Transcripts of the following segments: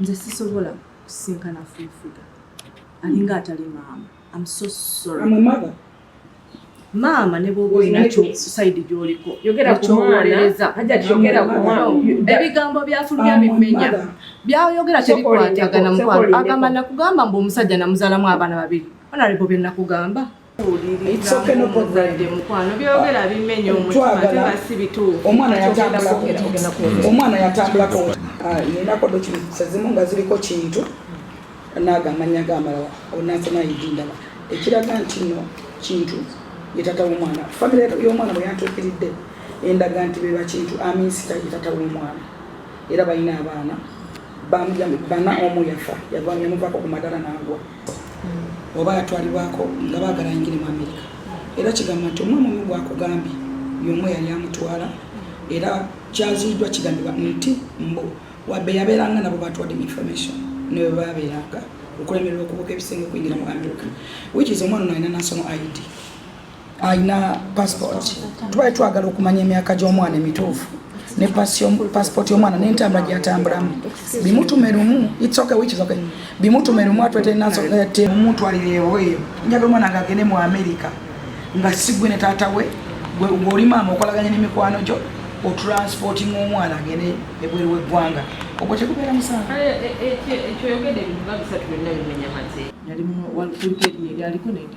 nze sisobola kusisinkana full figure alinga atali maama am so sorry I'm a mother maama ne bwoba olina kyosaidi gyoliko yogera ku mwana hajati yogera ku mwana ebigambo byafulumya bimenya byayogera tebikwatagana mukwano agamba nakugamba mbu omusajja namuzalamu abaana babiri onalebo bye nakugamba omwana yatambulako ah, ninako document ezimu nga ziriko kintu naago amanya gamalala onansoma yidindala ekiraga nti no kintu yetata womwana famire yomwana bweyantuukiridde endaga nti beba kintu aminsita yetata womwana era balina abaana bana omu yafa yavamuyamuvako ku madala nagwa oba yatwalibwako nga baagala ayingire mu amerika era kigamba nti omwana omu gwakugambye yomu eyali amutwala era kyaziiddwa kigambibwa nti mbu wabbe yabeeranga nabo batwadde mu information newe babeeranga okulemererwa okubuuka ebisenge okuyingira mu amerika wikizi omwana ono alina nasono id alina passport tubali twagala okumanya emyaka gy'omwana emituufu ne passport y'omwana n'entambula gyatambulamu bimutume lumu bimutume lumu atwetenaomutwalireewoeyo njaga omwana nga agende mu amerika nga sigwe ne taata we gweoli maama okolaganya nemikwano gyo otransporting omwana agende ebweru weggwanga ogwo tekubeera musango eh, eh, eh, yali mu walkirikeri yali aliko nende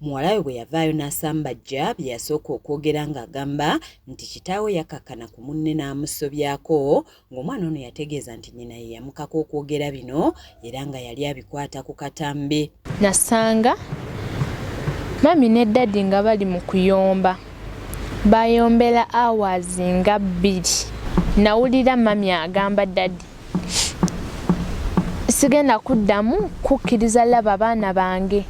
Muwala we bwe yavaayo n'asambajja bye yasooka okwogera ng'agamba nti kitaawe yakkakkana ku munne n'amusobyako ng'omwana ono yategeeza nti nnyina ye yamukaka okwogera bino era nga yali abikwata ku katambi. Nasanga mami ne dadi nga bali mu kuyomba bayombera awaazi nga bbiri nawulira mami agamba dadi sigenda kuddamu kukkiriza laba baana bange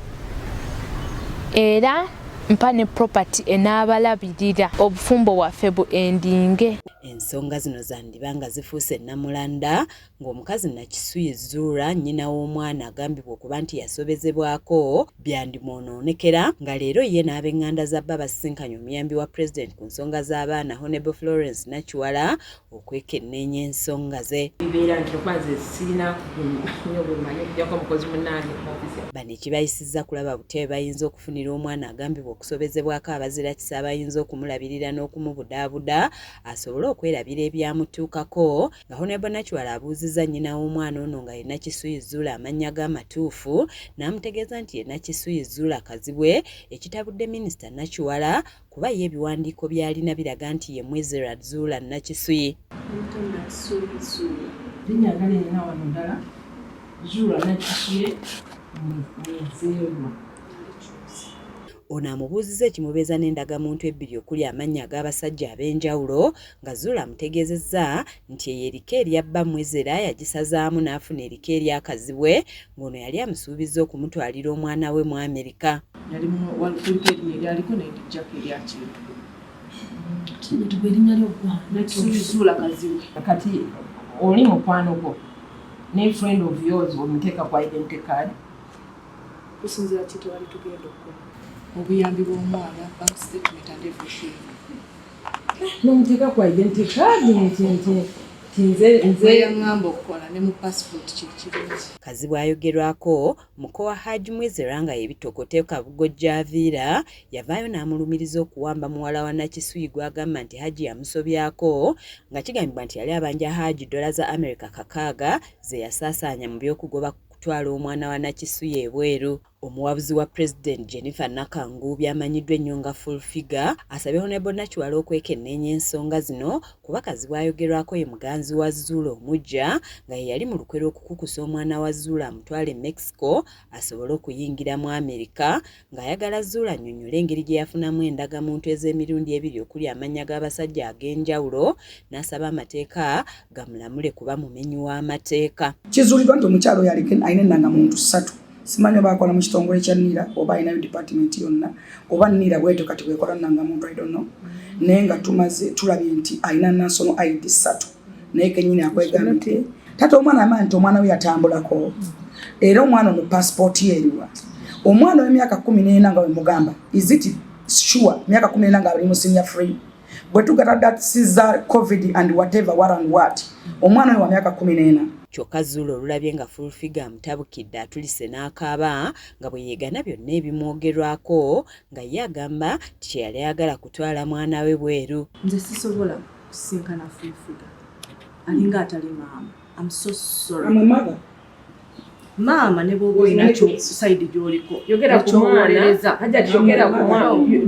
era mpa ne property enaabalabirira obufumbo bwaffe bu endinge ensonga zino zandiba nga zifuuse ennamulanda ng'omukazi nakisuye zuura nnyina w'omwana agambibwa okuba nti yasobezebwako byandimwonoonekera nga leero ye n'abenganda za bba basisinkanye omuyambi wa pulezidenti ku nsonga z'abaana honable florence nakiwala okwekenneenya ensonga ze bibeera nti okuba nze sirina nyo bwemanyi okujjako omukozi munaange muofiisi bano ekibayisizza kulaba butya bwe bayinza okufunira omwana agambibwa okusobezebwako abazirakisa abayinza okumulabirira n'okumubudaabuda asobole okwerabira ebyamutuukako nga honebo nakiwala abuuzizza nnyina w'omwana ono nga ye nakisuyi zuula amannya ge amatuufu n'amutegeeza nti ye nakisuyi zuula kazibwe ekitabudde minisita nakiwala kuba ye ebiwandiiko by'alina biraga nti ye Mwizirat Zuula Nakisuyi. Linnya ddala erina wano ddala Zuula Nakisuye Mwizeerwa. Ono amubuuzizza ekimubeeza n'endagamuntu ebbiri okuli amannya ag'abasajja ab'enjawulo nga Zuula amutegeezezza nti eyo erika erya bba Mwezera yagisazaamu n'afuna erika erya Kazibwe ng'ono yali amusuubizza okumutwalira omwana we mu Amerika. Kati oli mukwano gwo ne friend of yours omuteeka ku identity card kusinzira kitwali tugenda okukola obuyambi bw'omwana bank statement and everything n'omuteeka ku identity card nti nti kazibwe ayogerwako muko wa haj mwezera nga yebitokota ekabugo gyaviira yavaayo n'amulumiriza okuwamba muwala wa nakisuyi gwagamba nti hajji yamusobyako nga kigambibwa nti yali abanja hajji dola za america kakaaga zeyasaasaanya mu by'okugoba kutwala omwana wa nakisuyi ebweru Omuwabuzi wa Pulezidenti Jennifer Nakanguubi amanyiddwa ennyo nga Full Figure asabye Honorable Nakiwala okwekenneenya ensonga zino kuba Kazibwe ayogerwako ye muganzi wa Zuula omuggya nga yeyali mu lukwe lw'okukukusa omwana wa Zuula amutwale e Mexico asobole okuyingira mu Amerika ng'ayagala Zuula annyonnyole engeri gye yafunamu endagamuntu ez'emirundi ebiri okuli amannya g'abasajja ag'enjawulo n'asaba amateeka gamulamule kuba mumenyi w'amateeka. Kizuuliddwa nti omukyalo oyo aliko alina ennanga muntu ssatu simanyi oba akola mu kitongole kya nira oba alinayo dipatimenti yonna oba nira bwetyo kati bwekola nnanga muntu idono naye nga tumaze tulabye nti alina nasono id ssatu naye kenyini akwegambye tata omwana amanyi nti omwana we yatambulako era omwana ono pasipooti yeriwa omwana w'emyaka kumi n'ena nga wemugamba is it sure myaka kumi n'ena nga ali mu sinya free bwe tugata that caesar covid and whatever what and what omwana wa myaka kumi n'ena kyokka zuula olulabye nga fulfiga amutabukidde atulise n'akaaba nga bwe yeegana byonna ebimwogerwako nga ye agamba nti kye yali ayagala kutwala mwana we bweru nze sisobola kusisinkana fulfiga alinga atali maama am so sorry maama ne bwoba olina sayidi gyoliko ekyowolereza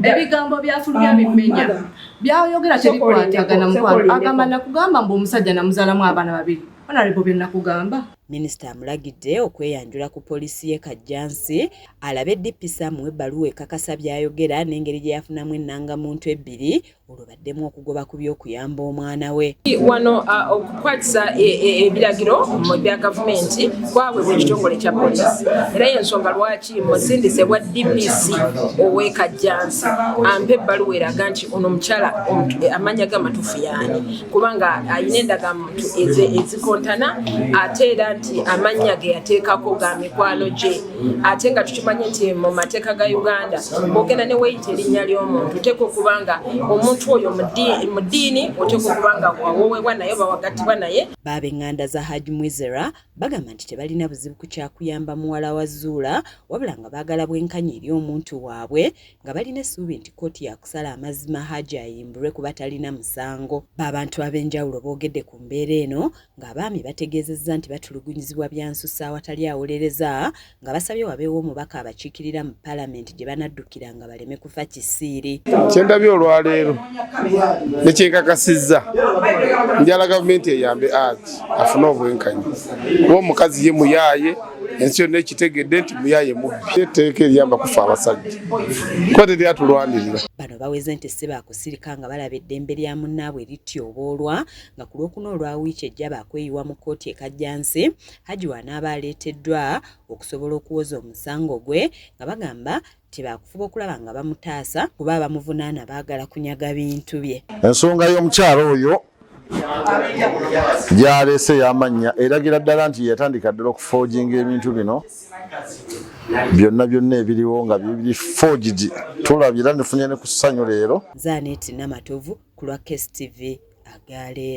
ebigambo byafulumya ah, bimenya byayoyogera tebikwatagana mukwano agamba nakugamba mbu omusajja namuzalamu abaana babiri onalebo byenakugamba minisita amulagidde okweyanjula ku poliisi ye kajjansi alabe dpisa muwe ebbaluwa ekakasa byayogera n'engeri gye yafunamu ennangamuntu ebbiri olwo baddemu okugoba ku by'okuyamba omwana we wano okukwatisa e, e, ebiragiro mu bya gavumenti kwabwe buli kitongole kya polisi era yensonga lwaki musindise bwa dpc owekajjansi ampa ebbaluwa eraga nti ono omukyala e, amanya ge amatuufu yaani kubanga alina endagamuntu ezikontana ate era nti amannya ge yateekako ga mikwano gye ate nga tukimanyi nti mu mateeka ga uganda bogenda ne weyita erinnya ly'omuntu oteeka okuba nga omuntu oyo mu ddiini oteeka okuba nga wawowebwa naye bawagattibwa naye baaba eŋŋanda za haj mwizera bagamba nti tebalina buzibu ku kyakuyamba muwala wa zuula wabula nga baagala bwenkanya eri omuntu waabwe nga balina essuubi nti kkooti yakusala amazima haji ayimbulwe kuba talina musango baabantu ab'enjawulo boogedde ku mbeera eno ng'abaami bategeezezza nti batulugunyizibwa byansusa awatali awolereza nga basabye wabeewo omubaka abakiikirira mu palamenti gye banaddukira nga baleme kufa kisiiri kyendabye olwaleero nekyenkakasizza njala gavumenti eyambe art afune obwenkanya kuba omukazi ye muyaaye ensi yonna ekitegedde nti muyaye mubbi etteeka eriyamba kufa abasajja kuba teryatulwanirira bano baweze nti si baakusirika nga balaba eddembe lya munnaabwe lityoboolwa nga ku lwokuna olwa wiiki ejja baakweyiwa mu kkooti e Kajjansi Hajji w'anaaba aleeteddwa okusobola okuwoza omusango gwe nga bagamba nti baakufuba okulaba nga bamutaasa kuba abamuvunaana baagala kunyaga bintu bye. Ensonga y'omukyala oyo gy'aleese y'amannya eragira ddala nti yatandika ddala okufooginga ebintu bino byonna byonna ebiriwo nga bibiri forged tulabye era nefunye ne ku ssanyu leero zanet namatovu ku lwa kstv agaleero